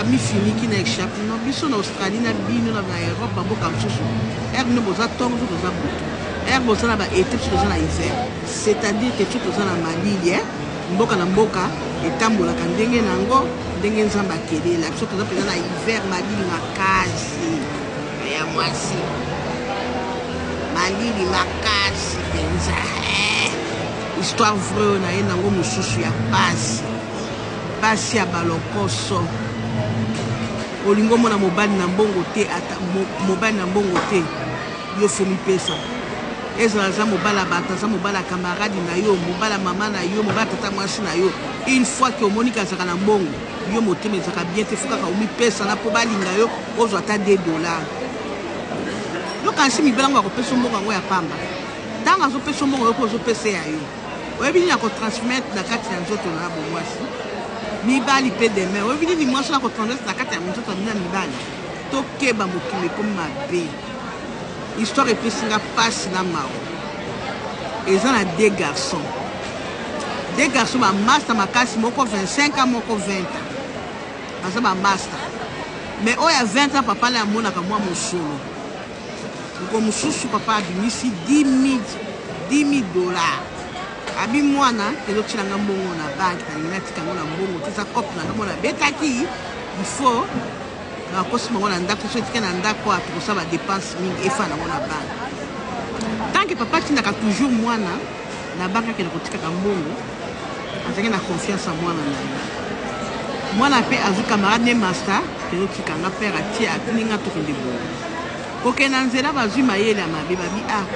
amifiniki na echape no biso na australie na bino na baeurope bamboka mosusu ere nde boza ntongo so toza butu ere boza na baete biso toza na hiver c'est-à-dire ke so toza na malili e mboka na mboka etambolaka ndenge na yango ndenge nzambe akelela biso toza mpenza na hiver malili makasi ya mwasi malili makasi mpenza eh. histoire vreo na ye nango mosusu ya pasi Basi ya ba lokoso. Olingi omona mobali na mbongo te ata mobali na mbongo te yo fomi pesa ezala aza mobala bato aza mobala camarade na yo mobala mama na yo mobala tata mwasi na yo une fois ke omoni kazaka na mbongo yo motema ezaka bien te fo kaka omipesana mpo balinga yo ozwa ata 2 dollar yokanisi mibala yango akopesa mbongo yango ya pamba ntango azopesa mbongo yo mpo ozopesa ya yo oyebi nini ako transmettre na kati ya nzoto na bomwasi mibali mpe deme oyebi nini mwasi na kotransmettre na kati ya nzoto na bino ya mibali tokeba mokili ekomi mabe histoire epesi nga mpasi na mawa eza na de garçon de garçon bamasta makasi moko 25 a moko 20 a baza bamasta mais oyo ya 20 a papa na amonaka mwa mosolo Ndeko mosusu papa abimisi 10.000 dollars abi mwana ezo tila nga mbongo na banki na lingi natika yango na mbongo te eza cope na nga mwana abetaki ifo nakosi bango na ndako so etika na ndako a tokosala badepense mingi efa nango na banki tanke papa atindaka toujours mwana na banki akende kotikaka mbongo azalaki na confiance ya mwana na ye mwana mpe azwi camarade ne masta ezotika nga père atie atindi nga tokende boye kokende na nzela bazwi mayele ya mabe babi a ah,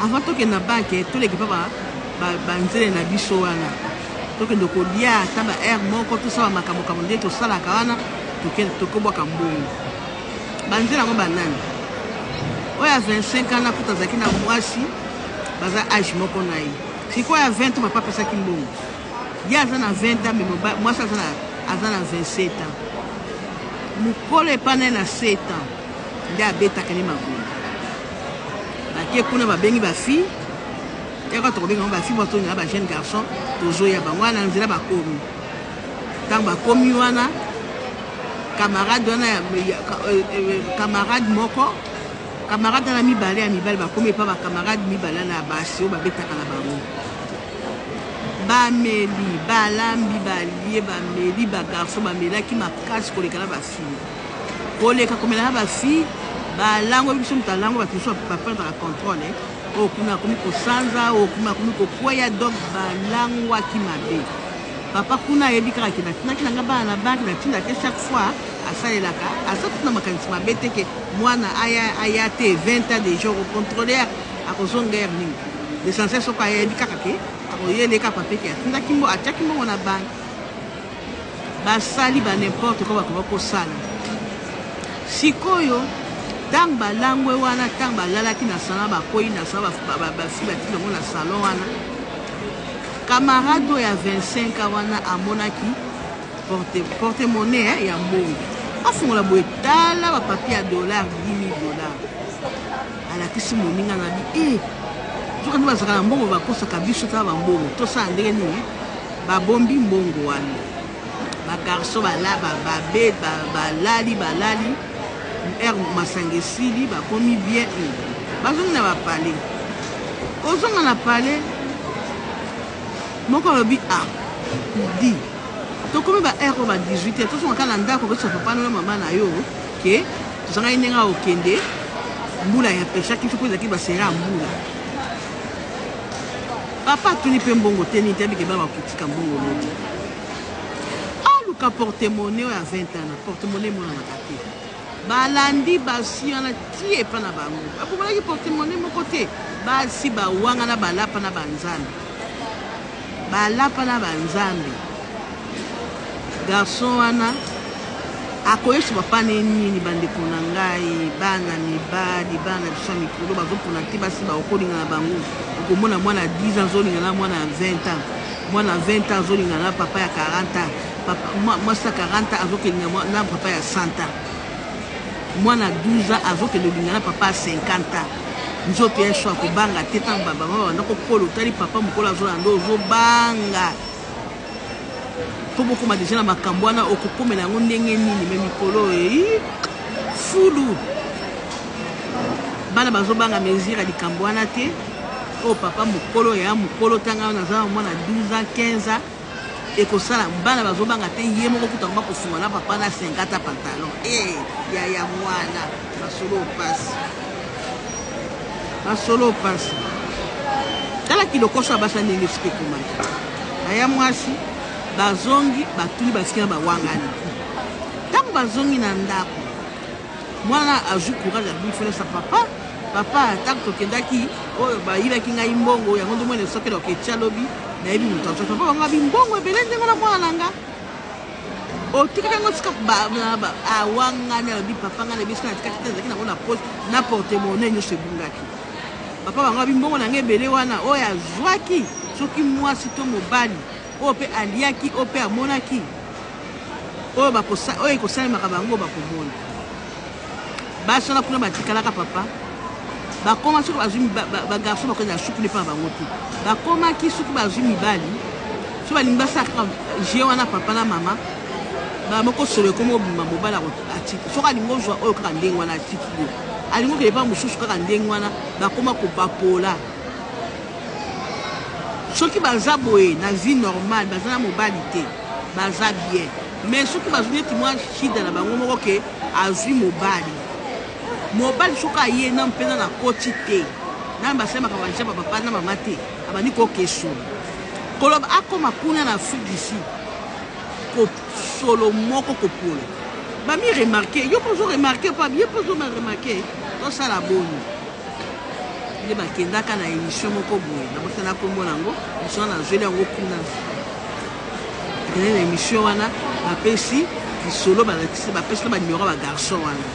avant tokende na bake toleki mpa banzele na biso wana tokende kolia ata ba aire moko tosala makambo kambo nde tosalaka wana tokobwaka mbongo banzela yango banani oyo ya 25 ans na kuta azalaki na mwasi baza age moko na ye Sikoyo ya 20 ans papa apesaki mbongo. Ye aza na 20 ans mais mwasi aza na aza na 27 ans. Mukolo epa naye na 7 ans nde abetaka ne makolo. Bake kuna babengi ba fille yaka tokobenga ba fille bato na ba jeune garçon tozoya bango wana nzela bakomi ntango bakomi wana camarade wana euh, euh, euh, camarade moko Camarade wana mibale ya mibali bakomi epa ba camarade mibale wana ya basi oyo babetaka na bango bameli balambi balie bameli bagarso bamelaki makasi koleka na bafille koleka komela na bafille balango oyebi biso moto alango bato mosusu baperdaka controle oyo kuna akomi kosanza oyo kuna akomi kokweya donc balangwaki mabe papa kuna ayebi kaka ke natinaki na nga bana na banki natindaki chaque fois asalelaka aza kuna makanisi mabe te ke Mwana aya aya te 20 ans dejà oko controler akozonga heure nini? L'essentiel soki ayebi kaka ke akoye leka papier ke atindaki mbo atiaki mbongo na banque. Basali ba n'importe quoi bakoba kosala. Sikoyo tango balangwe wana tango balalaki na salon bakweyi na salon basi batindi bango na salon wana camarade oyo ya 25 ans wana amonaki porte porte monnaie hein, ya mbongo afungola boye tala bapapie ya dollar 10 dollar alakisi moninga na bi e eh, soki nde bazalaka na mbongo bakosaka biso tala bambongo tosala ndenge nini babombi mbongo wana bagarso babed balali balali r masanga esili bakomi bien eh, bazongi na bapale kozonga na pale moko alobi a ah, di Tokomi ba heure oyo ba 18 heures tozonga kaka na ndako koyebisa papa no na mama na yo ke tozangaki ndenge ya kokende mbula ya peshaki mpe ezalaki basera ya mbula papa atuni mpe mbongo te nini te abike bana bakotika mbongo modi aluka portemone oyo ya 20 ans na portemone emonanaka te Balandi basi wana ti epa na bango. Babongolaki portemone moko te. Basi bawangana balapa na ba nzambe. Balapa na ba nzambe. Garçon wana akoyebisa papa ne nini bandeko na ngai bana mibali bana biso ya mikolo bazopona te basi baokolinga na bango okomona mwana 10 ans azolinga na mwana ya 20 ans mwana 20 ans azolinga na papa ya 40 ans Papa mwasi ya 40 ans azokende na papa ya 100 ans mwana ya 12 ans azokende olinga na papa ya 50 ans nzoto ya sho akobanga te ntango babama babanda kokola otali papa mokolo azolanda nde ozobanga mpo bokoma deja na makambo wana okokomela yango ndenge nini me mikolo ei fulu bana bazobanga mesure ya likambo wana te oyo oh, papa mokolo ya mokolo ntanga naza mwana 12 ans 15 ans Ekosala bana bazobanga te ye moko kutu akoma kosunga na papa na senga ata pantalon ee yaya mwana masolo opasi masolo opasi tala kilokoso ya basi ya ndenge esika ekomaki baya mwasi bazongi batuli basiki na bawangani ntango bazongi na ndako mwana azwi courage ya bifele sa papa Papa tango tokendaki oyo bayibaki ngai mbongo yango ndomoni esoki eloko etia lobi nayebi moto azoka mpo bango abi mbongo ebele ndenge na mwana na nga otikaki yango tika awangani alobi papa ngai nayebi soki natikaki te ezalaki nango na poche na portemone nyonso ebungaki papa bango abi mbongo na ngai ebele wana oyo azwaki soki mwasi to mobali oyo mpe aliaki oyo mpe amonaki oyo ekosalemaka bango bakomona basala kuna batikalaka papa bakoma soki bazwi bagarçon bakoki na suku nepa bango te bakomaki soki bazwi mibali so balingi basalaka je wana papa na mama bamoko solo ekomi obima mobali atiki soki alingi ozwa oyo kaka ndenge wana atiki yo alingi okende mpa mosusu kaka ndenge wana bakoma kobapola soki baza boye na vie normale baza na mobali te baza bien mais soki bazwi neti mwa shida na bango moko ke Azui mobali mobali soki aye na mpena na koti te na basali makambo ya jaba papa na mama te abandi kokeso koloba akoma kuna na afrique du sud kosolo moko kopola bami remarke yo mpo ozo remarke mpo ye mpo ozo remarke tosala boni nde bakendaka na émission moko boye nabosana nkombo na yango misona nazweli yango kuna Akendaki na emission wana bapesi lisolo balakisi bapesi na banimero ya bagarçon wana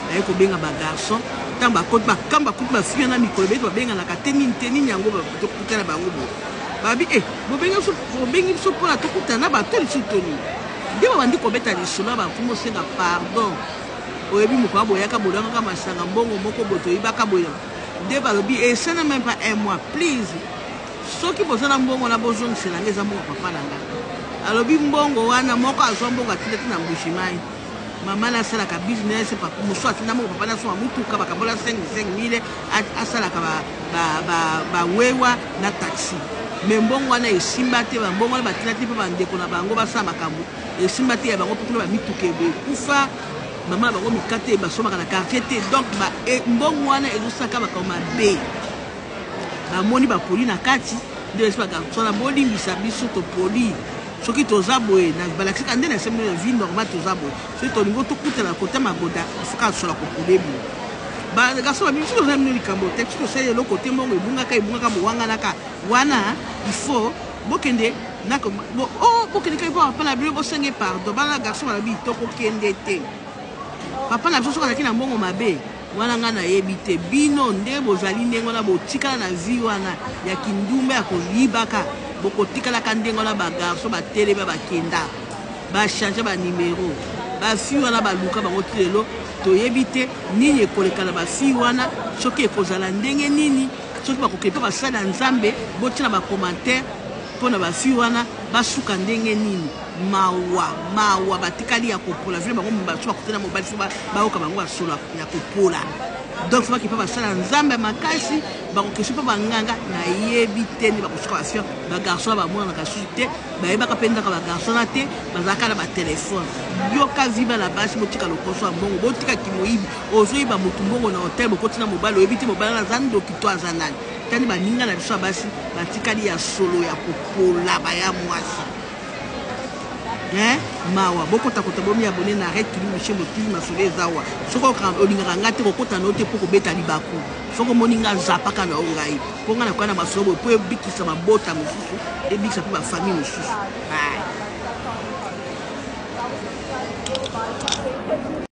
baye kobenga bagarçon ntango bakoti bakamba bakuti bafia na mikolo beti babenganaka te nini te nini yango tokuta na bango bo babi e eh, bobengi biso mpona tokuta na bato lisusu toni nde babandi kobeta lisolo ya bakumu osenga pardon oyebi mokwa boyaka bolangaka masanga mbongo moko botoyibaka boye nde balobi esana eh, meme pas un mois please Soki boza na mbongo wana bozongisela nga eza mbongo papa na nga alobi mbongo wana moko azwa mbongo atinda ti na mbujimayi mama na asalaka business mosusu atinda mbongo papa na asoma motuka bakabola 5000 asalaka bawewa na taxi me mbongo wana esimba te bambongo wana batinda te mpe bandeko na bango basala makambo esimba te ya bango mpe kuna bamituka ekufa mama na bango mikate basomaka na quartier te donc mbongo wana ezosaka makambo mabe bamoni bapoli na kati nde esipaka sona bolimbisa biso topoli soki toza boye balakisaka nde na semi vie normal toza boye soki tolingi tokutana kote magoda ifoka sola kopolebi bagaso babi biso toza bino likambo te biso tosali eloko te mbongo ebungaka ebungaka bowanganaka wana ifo bokende nako oh, bokende kai mpo bapala bino bosenge pardon bana garçon balabi tokokende te papa na biso soki azalaki na mbongo mabe Wana nga nayebi te bino nde bozali ndenge wana botikala na vie wana ya kindumba ya koyibaka bokotikala ka ndenge wana ba garçon batelemi ya bakenda ba change ba numero ba fille wana baluka bango ti lelo toyebi te nini ekoleka na ba fille wana soki ekozala ndenge nini soki bakokende mpe basali ya nzambe botina ba commentaire mpo na ba fille wana basuka ndenge nini Mawa mawa batikali ya kopola vile bango basu bakute na mobali fo bayoka bango ya solo ya kopola donc fo bakipa basala nzambe ya makasi bakokesi mpo banganga nayebi te nde bakosuka bafia bagarso wana bamonanaka susu te bayebaka mpe ndaka bagarso wana te bazalaka na batelefone yoka viba na basi botika lokoso ya mbongo botika kimoyibi ozoyiba motu mbongo na hotel bokoti na mobali oyebi te mobali wana aza ndoki to aza nani tani baninga na biso ya basi batikali ya solo ya kopola baya mwasi Hein? Mawa, bokota kota bomi abonner na Red Kilimu chez Motivi masolo eza awa. Soki oka- olingaka nga te kokota na yo te mpo kobeta libaku. Soki omoni nga zapaka na yo ngai. Mpo nga nakoya na masolo boye mpo ebikisa mabota mosusu, ebikisa mpe ba famille mosusu. Hai.